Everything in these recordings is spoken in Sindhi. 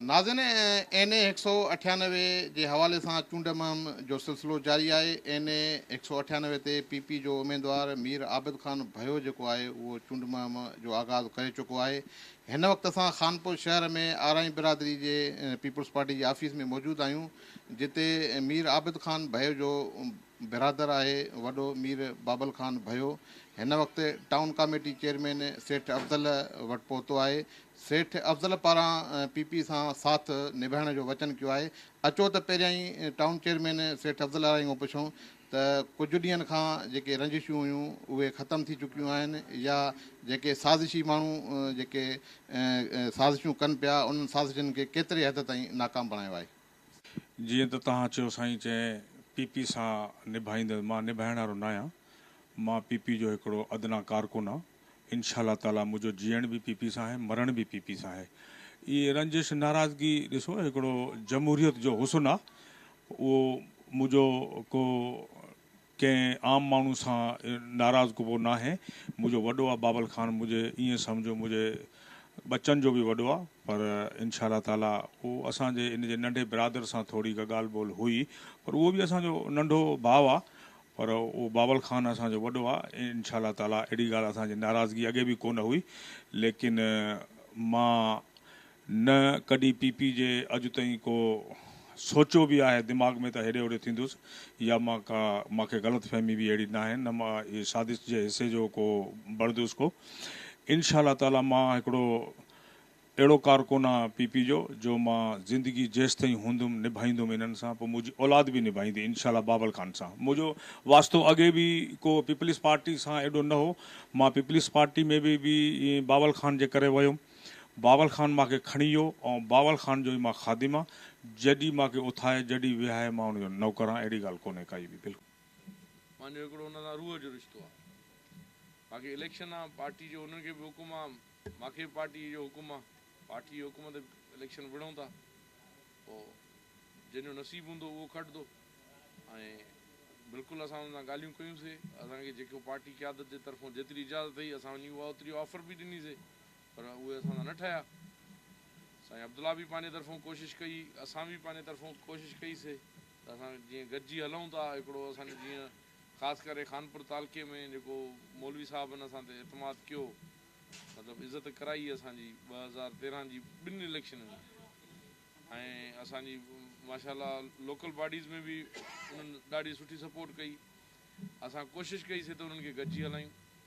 ناظرين اين اي هڪ سؤ اٺيانوي جي حوالي سان چونڊ مهم جو سلسلو جاري آهي، اين اي هڪ سؤ اٺيانوي تي پي پي جو اميدوار مير عابد خان ڀيو جيڪو آهي اهو چونڊ مهم جو آغاز ڪري چڪو آهي، هن وقت اسان خانپور شهر ۾ آرائين برادري جي پيپلز پارٽي جي آفيس ۾ موجود آهيون جتي مير عابد خان ڀيو جو برادر آهي وڏو مير بابل خان ڀيو هن وقت town committee chairman Seth Afzal وٽ پهتو آهي سيٺ افضل پاران پي پي سان ساٿ نڀائڻ جو وچن ڪيو آهي اچو ته پهريائين ٽائون چيئرمين سيٺ افضل آرائي کان پڇون ته ڪجهه ڏينهن کان جيڪي رنجشون هيون اهي ختم ٿي چڪيون آهن يا جيڪي سازشي ماڻهو جيڪي سازشون ڪن پيا انهن سازشن کي ڪيتري حد تائين ناڪام بڻايو آهي جيئن ته توهان چيو سائين چين پي پي سان نڀائيندس مان نڀائڻ وارو ناهيان مان پي پي جو هڪڙو ادنيٰ ڪارڪن آ انشاء الله تعاليٰ منهنجو جيئڻ به پي پي سان آهي مرڻ به پي پي سان آهي اهي رنجش ناراضگي ڏسو هڪڙو جمهوريت جو حسن آ اهو منهنجو ڪو ڪنهن عام ماڻهو سان ناراض ڪبو ناهي. منهنجو وڏو آ بابل خان منهنجي ائين سمجهو منهنجي ٻچن جو به وڏو آ پر انشاء الله تعاليٰ اهو اسان جي ان جي ننڍي برادر سان ٿوري ڪا ڳالهه ٻولهه هئي پر اهو به اسان جو ننڍو ڀاء آ پر اهو بابل خان اسان جو وڏو آ انشاء الله تعاليٰ اهڙي ڳالهه اسان جي ناراضگي اڳي به ڪونه هئي ليڪن مان نه ڪڏهن پي پي جي اڄ تائين ڪو سوچيو به آهي دماغ ۾ ته هيڏي هوڏي ٿيندس يا مان ڪا مان کي غلط فهمي به اهڙي ناهي نه مان اهي سازش جي حصي جو ڪو بڻدس ڪو انشاء الله تعالي مان هڪڙو اهڙو ڪارڪن آ پي پي جو جو مان زندگي جيستائين هوندم نڀائيندم انهن سان پوء منهنجي اولاد به نڀائيندي انشاء الله بابل خان سان منهنجو واسطو اڳي به ڪو پيپلز پارٽي سان ايڏو نه هو مان پيپلز پارٽي ۾ به بابل خان جي ڪري ويم باول خان مان کي کڻي ويو ۽ باول خان جو ئي مان خادم آ، جڏي مان کي اٿائي، جڏي ويهائي مان ان جو نوڪر آ، اهڙي ڳالهه ڪونهي ڪائي به بلڪل. مانجو هڪڙو انهن سان روح جو رشتو آ. باقي اليڪشن آ، پارٽي جو انهن کي به حڪم آ، مان کي به پارٽي جو حڪم آ، پارٽي جي حڪم تي اليڪشن وڙهون ٿا، پوء جنهن جو نصيب هوندو اهو کٽدو ۽ بلڪل اسان انهن سان ڳالهيون ڪيون سي، اسان کي جيڪو پارٽي قيادت جي طرفون جيتري اجازت هئي اسان وڃي اها اوتري آفر به ڏني سي. پر اهي اسان سان نه ٺهيا. سائين عبدالله به پنهنجي طرفون ڪوشش ڪئي، اسان به پنهنجي طرفون ڪوشش ڪئي سي ته اسان جيئن گڏجي هلون ٿا، هڪڙو اسان جو جيئن خاص ڪري خانپور تعلقي ۾ جيڪو مولوي صاحبن اسان تي اعتماد ڪيو، مطلب عزت ڪرائي اسان جي ٻه هزار تيرنهن جي ٻن اليڪشنن ۾ ۽ اسان جي ماشاء الله لوڪل باڊيز ۾ به انهن ڏاڍي سٺي سپورٽ ڪئي. اسان ڪوشش ڪئي سي ته انهن کي گڏجي هلايون.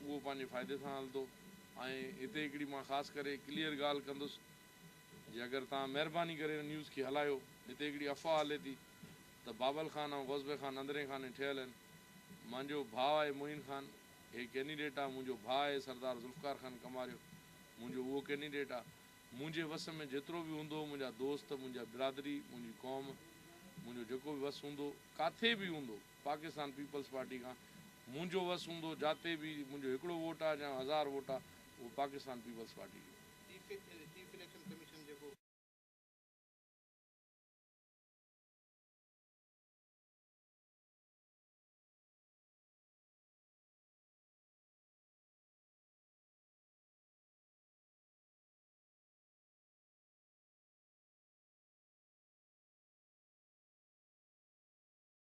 اهو پنهنجي فائدي سان هلندو ۽ هتي هڪڙي مان خاص ڪري ڪليئر ڳالهه ڪندس جي اگر توهان مهرباني ڪري ان نيوز کي هلايو هتي هڪڙي افواهه هلي ٿي ته بابل خان ۽ غوث بي خان اندرين خاني ٺهيل آهن مانجو ڀاء آهي معين خان هي ڪينڊيڊيٽ آهي منهنجو ڀاء آهي سردار ذوالفقار خان ڪماريو منهنجو اهو ڪينڊيڊيٽ آهي منهنجي وس ۾ جيترو به هوندو منهنجا دوست منهنجا برادري منهنجي قوم منهنجو جيڪو به وس هوندو ڪاٿي به هوندو. پاڪستان پيپلز پارٽي کان منهنجو وس هوندو جاتي به منهنجو هڪڙو ووٽ آ جا هزار ووٽ آ اهو پاڪستان پيپلز پارٽي جو آ. چيف اليڪشن ڪميشن جيڪو.